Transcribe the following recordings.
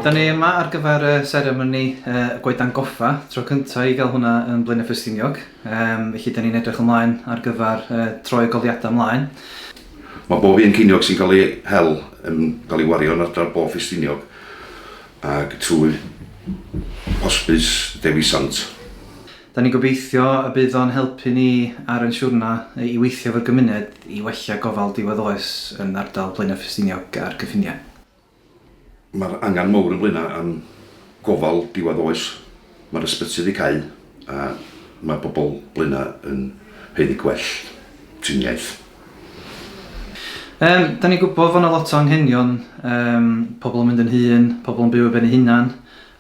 Da ni yma ar gyfer y seremoni y Goedan Goffa, tro cyntaf i gael hwnna yn Blaenau Ffestiniog, um, felly da ni'n edrych ymlaen ar gyfer uh, troi y goliadau ymlaen. Mae bob un ceiniog sy'n cael ei hel yn cael ei wario yn ardal bob Ffestiniog ac trwy hosbis Dewi Sant. Da ni'n gobeithio y bydd o'n helpu ni ar yn siwrna i weithio efo'r gymuned i wella gofal diwedd oes yn ardal Blaenau Ffestiniog a'r cyffiniau. Mae'r angen mawr yn Blaenau am gofal diwedd oes, mae'r ysbyty wedi cau a mae pobl Blaenau yn haeddu gwell triniaeth. Yym, da ni'n gwybod fod 'na lot o anghenion, yym, pobl yn mynd yn hŷn, pobl yn byw ar ben eu hunain,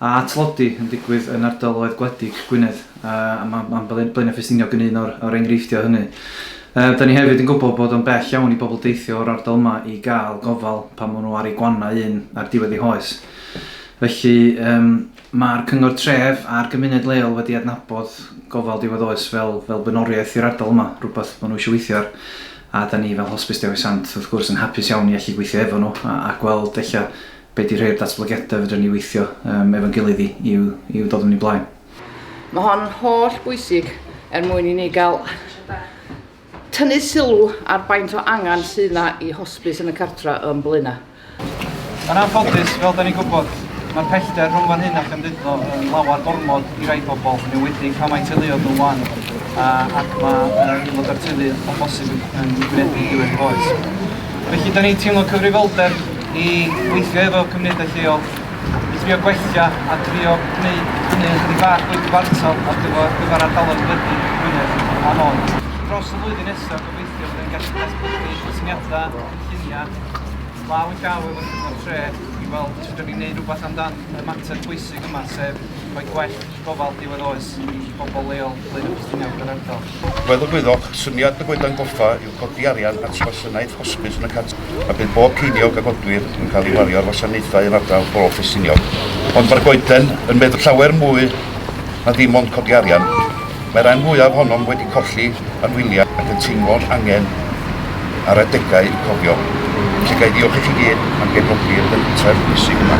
a tlodi yn digwydd yn ardaloedd gwledig Gwynedd, a mae ma Blaenau Ffestiniog yn un o'r enghreifftiau hynny. Uh, da ni hefyd yn gwybod bod o'n bell iawn i bobl deithio o'r ardal yma i gael gofal pan maen nhw ar ei gwanna un ar diwedd ei hoes. Felly, um, mae'r cyngor tref a'r gymuned leol wedi adnabod gofal diwedd oes fel, fel bynoriaeth i'r ardal yma, rhywbeth maen nhw eisiau weithio ar. A da ni fel Hospice Dewi Sant, wrth gwrs, yn hapus iawn i allu gweithio efo nhw a, a gweld eich Be di rhei o'r datblygiadau fedrwn ni weithio um, efo'n gilydd i, i'w, i'w dod yn ei blaen? Mae hon yn holl bwysig er mwyn i ni gael tynnu sylw ar baint o angen sydd yna i hosbis yn y cartra yn Blaenau. Yn anffodus, fel da ni'n gwybod, mae'r pellter rhwng fan hyn a Chymduddo yn lawer gormod i rai pobl, yn ewedig pan mae teuluoedd nhw'n wan, ac mae aelod o'r teulu o bosib yn gwynebu diwedd oes. Felly, da ni'n teimlo cyfrifoldeb i weithio efo cymunedau lleol, i drio gwella a drio gwneud hynny ychydig bach fwy cyfartal ar gyfer, gyfer ardaloedd gwledig Gwynedd a Môn. Dros y flwyddyn nesaf, gobeithio byddwn ni'n gallu datblygu syniadau, cynlluniau, law yn llaw efo'r Cyngor Tref i weld sut da ni'n gwneud rhywbeth amdan y mater pwysig yma, sef rhoi gwell gofal diwedd oes i bobl leol Blaenau Ffestiniog yr ardal. Fel y gwyddoch, syniad y Goedan Goffa yw codi arian at wasanaeth hosbis yn y cartref a bydd bob ceiniog a godwir yn cael ei wario ar wasanaethau yn ardal Bro Ffestiniog. Ond mae'r Goeden yn meddwl llawer mwy na dim ond codi arian. Mae rhan fwyaf ohonom wedi colli anwyliaid ac yn teimlo'r angen ar adegau i cofio. Felly ga i ddiolch i chi gyd am gefnogi'r pentref bwysig yma.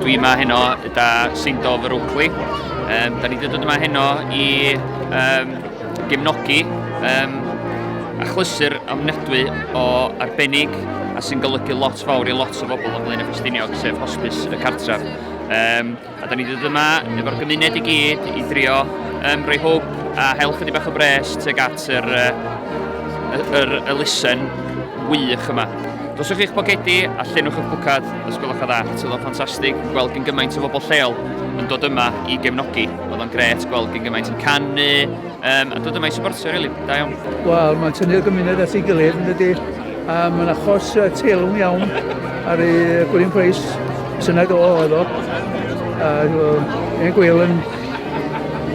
Dwi yma heno da Seindo fy Rwcli. Um, da ni wedi dod yma heno i um, gefnogi um, achlysur ofnadwy o arbennig a sy'n golygu lot fawr i lot o bobl ymlaen y Ffestiniog, sef hospice y cartref. Um, A da ni wedi dod yma efo'r gymuned i gyd i drio um, rhoi hwb a hel chydig bach o bres tuag at yr, uh, yr, yr elusen wych yma. Doswch chi'ch bogedi a llenwch y bwcad os gwelwch o dda. Oedd o'n ffantastig gweld gyn gymaint o bobl lleol yn dod yma i gefnogi. Oedd o'n gret gweld gyn gymaint yn canu, Um, a dod yma i supportio, rili. Really. Da iawn. Wel, mae'n tynnu'r gymuned at ei gilydd, yn dydy. A mae'n achos uh, teilwng iawn ar ei Gwilym Price. Syna do oedd o. A ein gwyl yn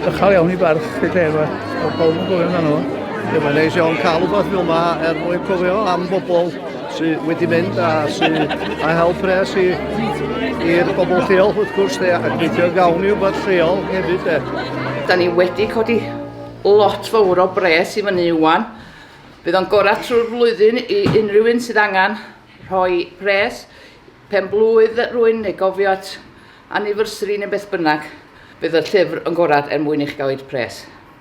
ychal iawn i barch y lle yma. Oedd pob yn gofio amdano fo. Mae'n neis iawn cael rhywbeth fel yma er mwyn cofio am bobl sydd wedi mynd a sydd a help pres i i'r bobl lleol wrth gwrs de, ac gweithio gawn ni wybod lleol hefyd de. Da ni wedi codi lot fawr o bres i fyny iwan. Bydd o'n gorau trwy'r flwyddyn i unrhyw un sydd angen rhoi pres, pen blwydd rwy'n neu gofio at anniversary neu beth bynnag. Bydd y llyfr yn gorau er mwyn i chi gael eich pres.